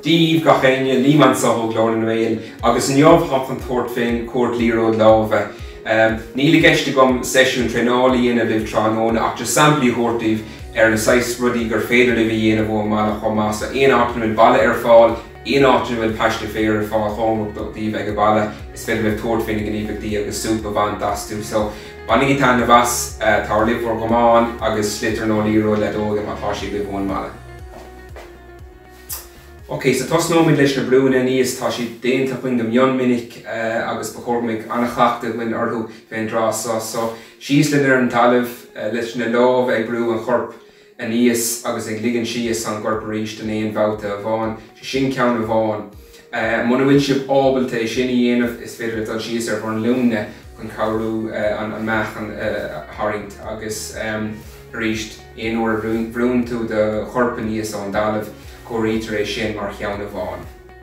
Daoibh gach éinne, Liam anso ó Glór na nGael, agus inniu táim chun tabhairt fén chuairt liathróid lámha. Níl i gceist agam seisiún traenála a dhéanamh libh tráthnóna ach just samplaí a thabhairt daoibh ar na saghas rudaí gur féidir libh a dhéanamh ón mbaile chomh maith. So aon áit a mbeidh balla ar fáil, Aon áit ina bhfuil paiste féir ar fáil cóngarach daoibh ag a bhaile. Is féidir libh tabhairt faoi na gníomhaíochtaí agus súp a bhaint astu. So, bainigí taitneamh as. Tabhair libh bhur gcamáin agus sliotar nó liathróid le dó agaibh má tá siad agaibh sa mbaile. OK, so tosnóimid leis na brúnna aníos. Tá siad déanta againn go mion minic agus ba chóir go mbeidh an-chleachtadh againn orthu fén dtráth seo. So, síos linn ar an talamh leis na lámha ag brú an choirp. aníos agus ag ligean síos an choirp arís in aon bhabhta amháin, sé sin ceann amháin. Muna bhfuil sibh ábalta é sin a dhéanamh, is féidir libh dul síos ar bhur nglúine chun cabhrú an meáchan a tharraingt agus arís aon uair a bhrúnn tú do chorp aníos ón dtalamh, comhairítear é sin mar cheann amháin.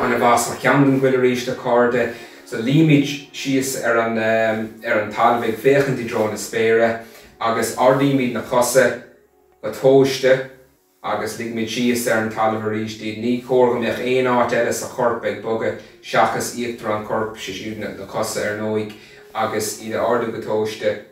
Ana-mhaith mar cheann don chúl arís a chairde. So luímid síos ar an, ar an talamh ag féachaint i dtreo na spéire agus ardaímid na cosa go tomhaiste agus ligimid síos ar an talamh arís iad. Ní cóir go mbeadh aon áit eile sa chorp ag bogadh seachas íochtar an choirp, siad siúd na cosa ar ndóigh, agus iad a ardú go tomhaiste.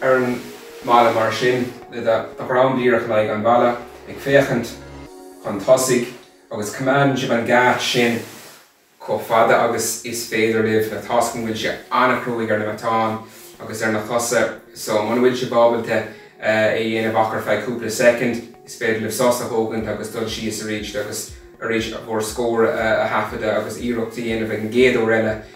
ar an mballa mar sin, le do dhroim díreach in aghaidh an bhalla, ag féachaint chun tosaigh, agus coimeádann sibh an geáitse sin chomh fada agus is féidir libh, toisc go bhfuil sé an-chruaidh ar na matáin agus ar na cosa so muna bhfuil sibh ábalta é a dhéanamh ach ar feadh cúpla soicind, is féidir libh sos a thógaint agus dul síos arís agus arís bhur scór a thaifeadadh agus iarracht a dhéanamh ag an gcéad uair eile.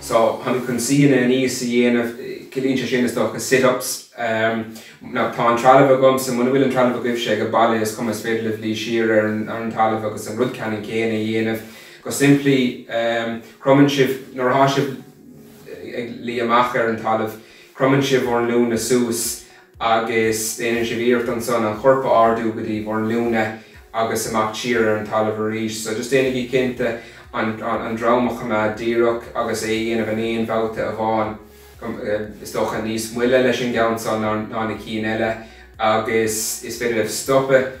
So, chun chun suíonna aníos a dhéanamh, ciallaíonn sé sin, is dócha, sit-ups. Now, tá an trealamh agamsa, muna bhfuil an trealamh agaibhse ag an baile, is cuma, is féidir libh luí siar ar an ar an talamh agus an rud ceannann céanna a dhéanamh. Go simplí, cromann sibh, nuair atá sibh ag luí amach ar an talamh, cromann sibh bhur nglúine suas agus déanann sibh iarracht ansan an chorp a ardú go dtí bhur nglúine agus amach siar ar an talamh arís. So just déanaigí cinnte an, an, an drom a choimeád díreach agus é a dhéanamh in aon bhabhta amháin, is dócha níos moille leis an gceann san ná, ná na cinn eile agus is féidir libh stopadh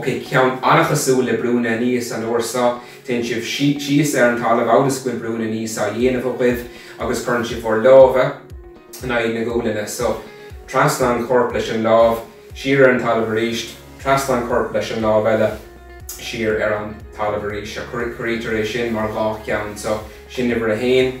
Ok, ceann an-chosúil le brúnna aníos an uair so, téann sibh síos ar an talamh amhail is go bhfuil brúnna aníos á dhéanamh agaibh agus cuireann sibh bhur lámha in aghaidh na gualainne. So, trasna an choirp leis an lámh, siar ar an talamh arís, trasna an choirp leis an lámh eile, siar ar an talamh arís. Seo, comhairítear é sin mar dhá cheann. So, sin uimhir a haon.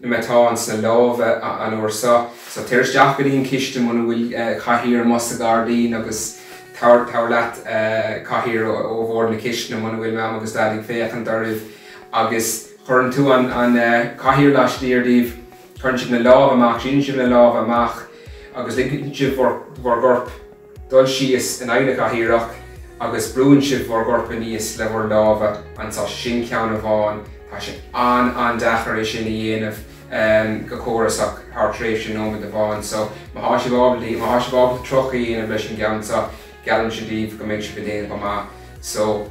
na matáin sna lámha an uair so. So téir isteach go dtí an chistin muna bhfuil cathaoir amuigh sa ghairdín agus tabhair leat cathaoir ó bhord na cistine muna bhfuil Mam agus Daid ag féachaint oraibh agus cuireann tú an cathaoir laistiar díbh. Cuireann sibh na lámha amach, síneann sibh na lámha amach agus ligeann sibh bhur gcorp. Dul síos in aghaidh na cathaoireach agus brúann sibh bhur gcorp aníos le bhur lámha, agus sin ceann amháin, tá sé an-an-deacair é sin a dhéanamh go córasach thar thréimhse nóiméad amháin. So, má tá sibh ábalta tríocha a dhéanamh leis an gceann seo, geallaimse daoibh go mbeidh sibh ag déanamh go maith. So.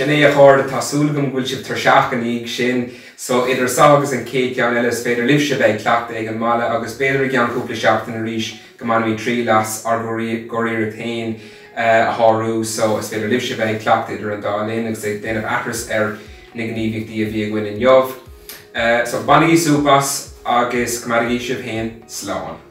Sin é a chairde, tá súil agam go bhfuil sibh tuirseach i ndiaidh sin. So, idir seo agus an chéad cheann eile, is féidir libhse a bheith ag cleachtadh ag an mbaile agus b'fhéidir i gceann cúpla seachtain arís go mbainfimid triail as ár gcuriarracht féin a shárú. So, is féidir libhse a bheith ag cleachtadh idir an dá linn agus ag déanamh aithris ar na gníomhaíochtaí a bhí againn inniu. So, bainigí súp as agus coimeádaigí sibh féin slán.